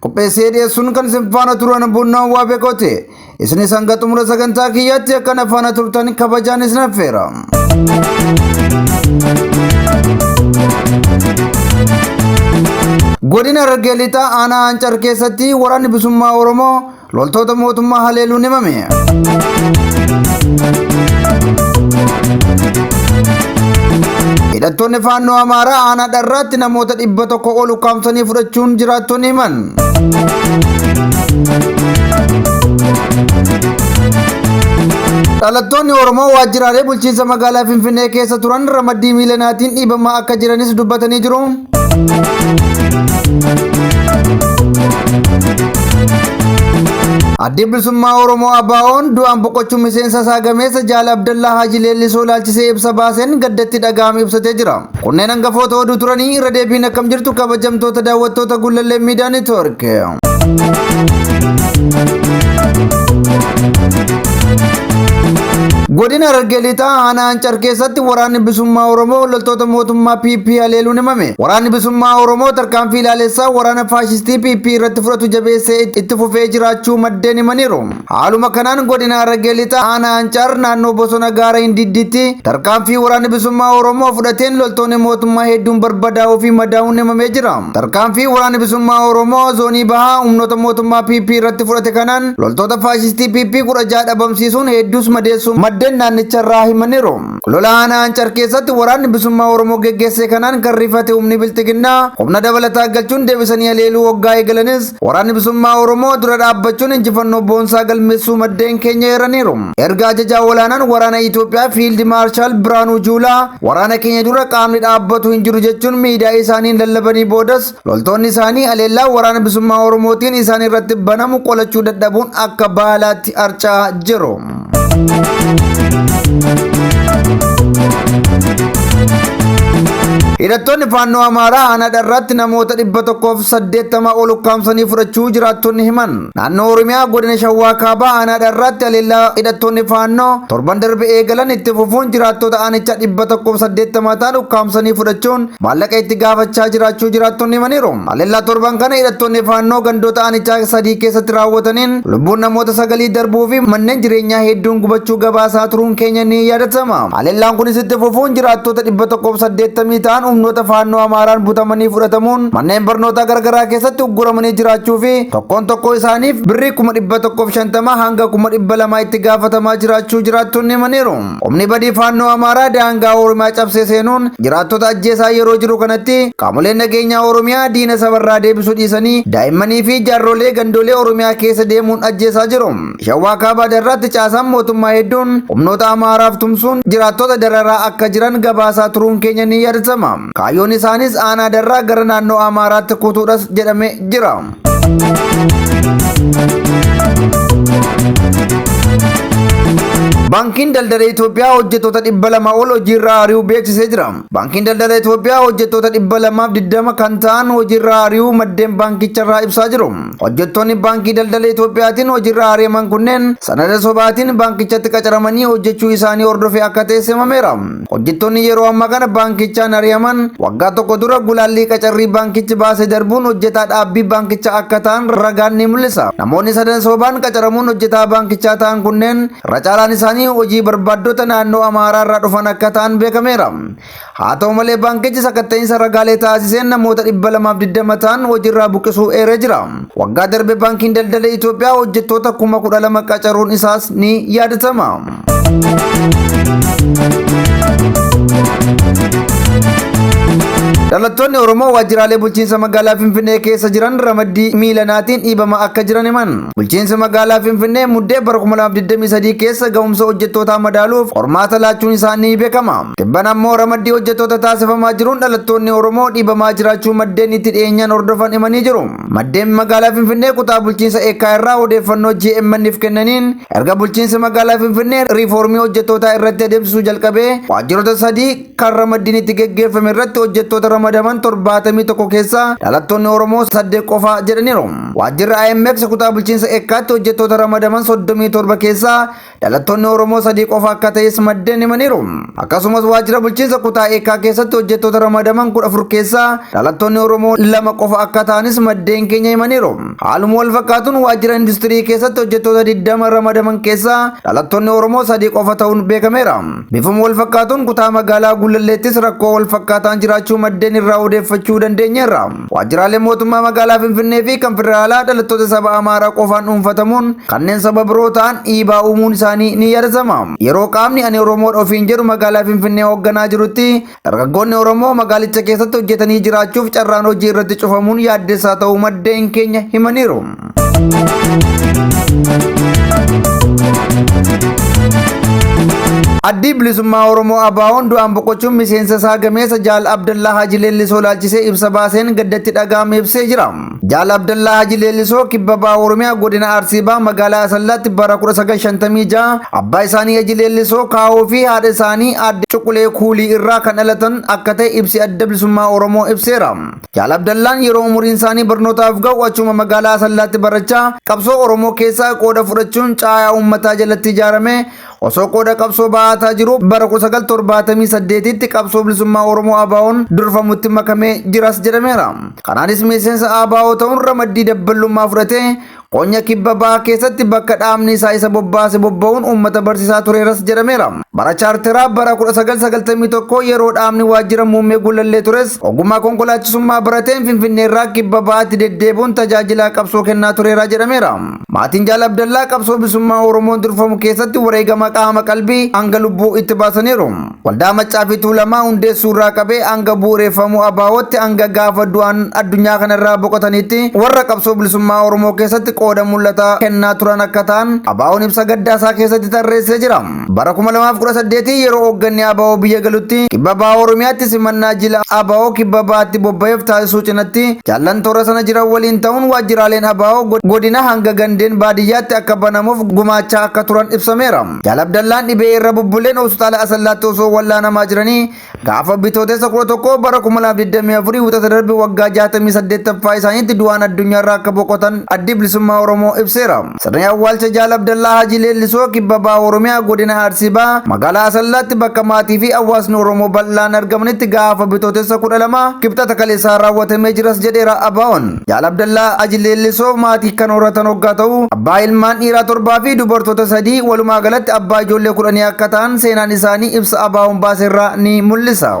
qopheessee dhiyeessuun kan isin faana turan bunnaan waa beekooti isinis hanga xumura sagantaa kiyyaatti akka na faana turtan kabajaan isin affeera. godina harargee lixaa aanaa ancar keessatti waraanni bilisummaa oromoo Loltoota mootummaa haleeluun himame. Hidhattoonni faannoo Amaaraa aanaa dharraatti namoota dhibba tokko ol ukkaamsanii fudhachuun jiraattonni himan. Dhalattoonni Oromoo waajjiraalee bulchiinsa magaalaa Finfinnee keessa turan ramaddii miilanaatiin dhiibamaa akka jiranis dubbatanii jiru. Addi bilisummaa Oromoo ABO'n du'aan boqochuu miseensa isaa gameessa Jaal Abdallaa Haaji Leellisoo ilaalchisee ibsa baaseen gaddatti dhaga'ame ibsatee jira. Kunneen hangafoota oduu turanii irra deebiin akkam jirtu kabajamtoota daawwattoota Gullallee Miidiyaa Neetwoork. Godina Harargee Lixaa aanaa Ancar keessatti waraanni bilisummaa Oromoo loltoota mootummaa PP haleeluun himame. Waraanni bilisummaa Oromoo tarkaanfii ilaalessaa waraana faashistii PP irratti fudhatu jabeessee itti fufee jiraachuu maddeen himaniiru. Haaluma kanaan godina Harargee Lixaa aanaa Ancaar naannoo bosona gaara Hindiddiitti tarkaanfii waraanni bilisummaa Oromoo fudhateen loltoonni mootummaa hedduun barbadaa'uu fi madaa'uun himamee jira. Tarkaanfii waraanni bilisummaa Oromoo zoonii bahaa humnoota mootummaa PP irratti fudhate kanaan loltoota faashistii PP 16 dhabamsiisuun hedduus madeessuun maddeen naannicharraa himaniiru. Lola aanaa Ancar keessatti waraanni bilisummaa Oromoo geggeesse kanaan kan rifate humni bilxiginnaa humna dabalataa galchuun deebisanii haleeluu hoggaa eegalanis waraanni bilisummaa Oromoo dura dhaabbachuun injifannoo boonsaa galmeessuu maddeen keenya eeraniiru. Erga ajajaa olaanaan waraana Itoophiyaa Fiild Maarshaal Birhaanuu Juulaa waraana keenya dura qaamni dhaabbatu hin jiru jechuun miidiyaa isaaniin lallabanii boodas loltoonni isaanii aleellaa waraana bilisummaa Oromootiin isaan irratti banamu qolachuu dadhabuun akka baalaatti harca'aa jiru. Hidhattoonni faannoo Amaaraa aanaa dharraatti namoota dhibba tokkoof saddeettama ol ukkaamsanii fudhachuu jiraattonni himan. Naannoo Oromiyaa godina Shawaa Kaabaa aanaa dharraatti aleellaa hidhattoonni faannoo torban darbe eegalan itti fufuun jiraattota aanichaa dhibba tokkoof saddeettama ta'an ukkaamsanii fudhachuun maallaqa itti gaafachaa jiraachuu jiraattonni himaniiru. Haleellaa torban kana hidhattoonni faannoo gandoota aanichaa sadii keessatti raawwataniin lubbuun namoota sagalii darbuu fi manneen jireenyaa hedduun gubachuu gabaasaa turuun keenya ni yaadatama. Haleellaan kunis itti fufuun jiraattoota 180 ta'an humnoota faannoo Amaaraan butamanii fudhatamuun manneen barnootaa garagaraa keessatti ugguramanii jiraachuu fi tokkoon tokkoo isaaniif birrii 150,000 hanga 200,000 itti gaafatamaa jiraachuu jiraattonni himaniiru. Humni badii faannoo Amaaraa daangaa Oromiyaa cabsee seenuun jiraattota ajjeesaa yeroo jiru kanatti qaamoleen nageenyaa Oromiyaa diina sabarraa deebisuu dhiisanii daa'immanii fi jaarrolee gandoolee Oromiyaa keessa deemuun ajjeesaa jiru. Shawaa Kaabaa Darraatti caasaan mootummaa hedduun humnoota Amaaraaf tumsuun jiraattota dararaa akka jiran gabaasaa turuun keenya ni yaadasama. Kaayyoon isaanis aanaa Darraa gara naannoo Amaaraatti kutuudhas jedhame jira. Baankiin Daldala Itoophiyaa hojjettoota dhibba lama ol hojiirraa ari'uu beeksisee jira. Baankiin Daldala Itoophiyaa hojjettoota dhibba lamaaf digdama kan ta'an hojiirraa ari'uu maddeen baankicharraa ibsaa jiru. Hojjettoonni Baankii Daldala Itoophiyaatiin hojiirraa ari'aman kunneen sanada sobaatiin baankichatti qacaramanii hojjechuu isaanii hordofee akka ta'e himameera. Hojjettoonni yeroo ammaa kana baankichaan ari'aman waggaa tokko dura gulaallii qacarrii baankichi baase darbuun hojjetaa dhaabbii baankichaa akka ta'an ragaan ni mul'isa. Namoonni sadan sobaan qacaramuun hojjetaa baankichaa ta'an kunneen irra caalaan isaanii hojii barbaaddota naannoo Amaaraa irraa dhufan akka ta'an beekameera. Haa ta'u malee baankichi sakatta'iinsa ragaalee taasiseen namoota 220 ta'an hojiirraa buqqisuu eeree jira. Waggaa darbe baankiin daldala Itoophiyaa hojjettoota 12,000 qacaruun isaas ni yaadatama. Dhalattoonni Oromoo waajjiraalee bulchiinsa magaalaa Finfinnee keessa jiran ramaddii miilanaatiin dhiibamaa akka jiran himan. Bulchiinsi magaalaa Finfinnee muddee bara 2023 keessa ga'umsa hojjettootaa madaaluuf qormaata laachuun isaa ni beekama. Tibban ammoo ramaddii hojjettoota taasifamaa jiruun dhalattoonni Oromoo dhiibamaa jiraachuu maddeen itti dhiyeenyaan hordofan himanii jiru. Maddeen magaalaa Finfinnee kutaa bulchiinsa Eekkaa irraa odeeffannoo GMN'f kennaniin erga bulchiinsi magaalaa Finfinnee riifoormii hojjettootaa irratti adeemsisuu jalqabee waajjiroota sadii kan ramaddiin itti geggeeffame irratti hojjettoota ramadaman 71 keessaa dhalattoonni Oromoo 8 qofa jedhaniiru. Waajjirri IMX kutaa bulchiinsa Eekkaatti hojjettoota ramadaman 37 keessaa Dhalattoonni Oromoo sadii qofa akka ta'es maddeen himaniiru. Akkasumas waajjira bulchiinsa kutaa eekkaa keessatti hojjettoota ramadaman kudha afur keessaa dhalattoonni Oromoo lama qofa akka ta'anis maddeen keenya himaniiru. Haaluma wal fakkaatuun waajjira industirii keessatti hojjettoota 20 ramadaman keessaa dhalattoonni Oromoo sadii qofa ta'uun beekameera. Bifuma wal fakkaatuun kutaa magaalaa Gullalleettis rakkoo wal fakkaataan jiraachuu maddeen irraa odeeffachuu dandeenyeerra. Waajjiraaleen mootummaa magaalaa Finfinnee fi kan federaalaa dhalattoota saba Amaaraa qofaan dhuunfatamuun kanneen saba biroo ta'an dhiibaa uumuun isaanii ni yaadatama. Yeroo qaamni ani Oromoodha ofiin jedhu magaalaa Finfinnee hoogganaa jirutti dargaggoonni Oromoo magaalicha keessatti hojjetanii jiraachuuf carraan hojii irratti cufamuun yaaddessaa ta'uu maddeen keenya himaniiru. Addii bilisummaa Oromoo Abaawoon du'aan boqochuun miseensa isaa gameessa Jaal Abdallaa Haji Leellisoo laalchisee ibsa baaseen gaddatti dhaga'ame ibsee jira. Jaal Abdallaa Haji Leellisoo kibba baha Oromiyaa godina Arsii baha magaalaa Asallaatti bara 1956 abbaa isaanii Haji Leellisoo kaa'oo fi haadha isaanii aadde Cuqulee Kuulii irraa kan dhalatan akka ta'e ibsi adda bilisummaa Oromoo ibseera. Jaal Abdallaan yeroo umuriin isaanii barnootaaf ga'u achuma magaalaa Asallaatti barachaa qabsoo Oromoo keessa qooda fudhachuun caayaa uummataa jalatti ijaarame osoo qooda qabsoo ba'aataa jiruu bara 1978tti qabsoo bilisummaa Oromoo ABOn durfamutti makamee jiras jedhameera. Kanaanis miseensa ABO ta'uun ramaddii dabballummaa fudhatee Qonya kibba baha keessatti bakka dhaabni isaa isa bobbaase bobba'uun uummata barsiisaa tureeras jedhameera. Bara chaarteraa bara 1991 yeroo dhaabni waajjira muummee gullallee tures ogummaa konkolaachisummaa barateen Finfinneerraa kibba bahaatti deddeebuun tajaajilaa qabsoo kennaa tureera jedhameera. Maatiin Jaal Abdallaa qabsoo bisummaa Oromoon durfamu keessatti wareegama qaama qalbii hanga lubbuu itti baasaniiru. Waldaa Maccaa fi Tuulamaa hundeessuu irraa qabee hanga bu'ureeffamuu ABOtti hanga gaafa du'aan addunyaa kana irraa boqotaniitti warra qabsoo bilisummaa Oromoo keessatti qooda mul'ata kennaa turan akka ta'an ABOn ibsa gaddaa isaa keessatti tarreessee jira. Bara 2018 yeroo hoogganni ABO biyya galutti kibba baha Oromiyaatti simannaa jila ABO kibba bahaatti bobba'eef taasisuu cinatti jaallan toora sana jiran waliin ta'uun waajjiraaleen ABO godina hanga gandeen baadiyyaatti akka banamuuf gumaachaa akka turan ibsameera. Jaal Abdallaan dhibee irra bubbuleen hospitaala Asallaatti osoo wallaanamaa jiranii gaafa bitootessa 11 bara 2024 wixata darbe waggaa 68ffaa isaaniitti du'aan addunyaarraa akka boqotan addi bilisummaa Oromoo ibseera. Sirni awwaalcha Jaal Abdallaa Hajii Leellisoo kibba baha Oromiyaa godina Arsii baha magaalaa Asallaatti bakka maatii fi hawaasni Oromoo bal'aan argamanitti gaafa bitootessa 12 kibxata kaleessaa raawwatamee jiras jedheera Abaa'oon. Jaal Abdallaa Haji Leellisoo maatii kan horatan hoggaa ta'u, abbaa ilmaan dhiiraa torbaa fi dubartoota sadii walumaa galatti abbaa ijoollee kudhanii akka ta'an seenaan isaanii ibsa ABOn baase irraa ni mul'isa.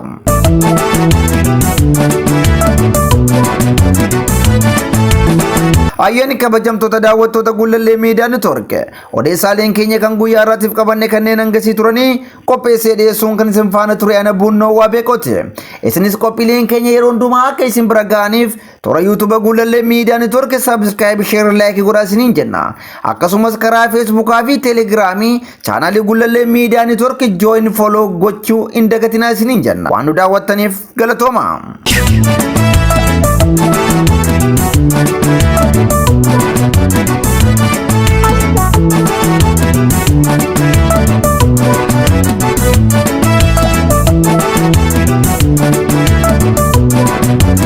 Ayyaanni kabajamtoota daawwattoota Gullallee Miidiyaa Network odeessaaleen keenya kan guyyaa irraatiif qabanne kanneen hangasii turanii qopheessee dhiyeessuun kan isin faana ture ana buunnoo waa beekoti. Isinis qophiileen keenya yeroo hundumaa akka isin bira ga'aniif Toora YouTube Guulallee Miidiyaa Network Subscribe Share Like godhaa isiniin jenna. Akkasumas karaa Facebook fi Telegram chaanaalii Guulallee Miidiyaa Network Join Follow gochuu hin dagatinaa isiniin jenna. Waan nu daawwattaniif galatooma.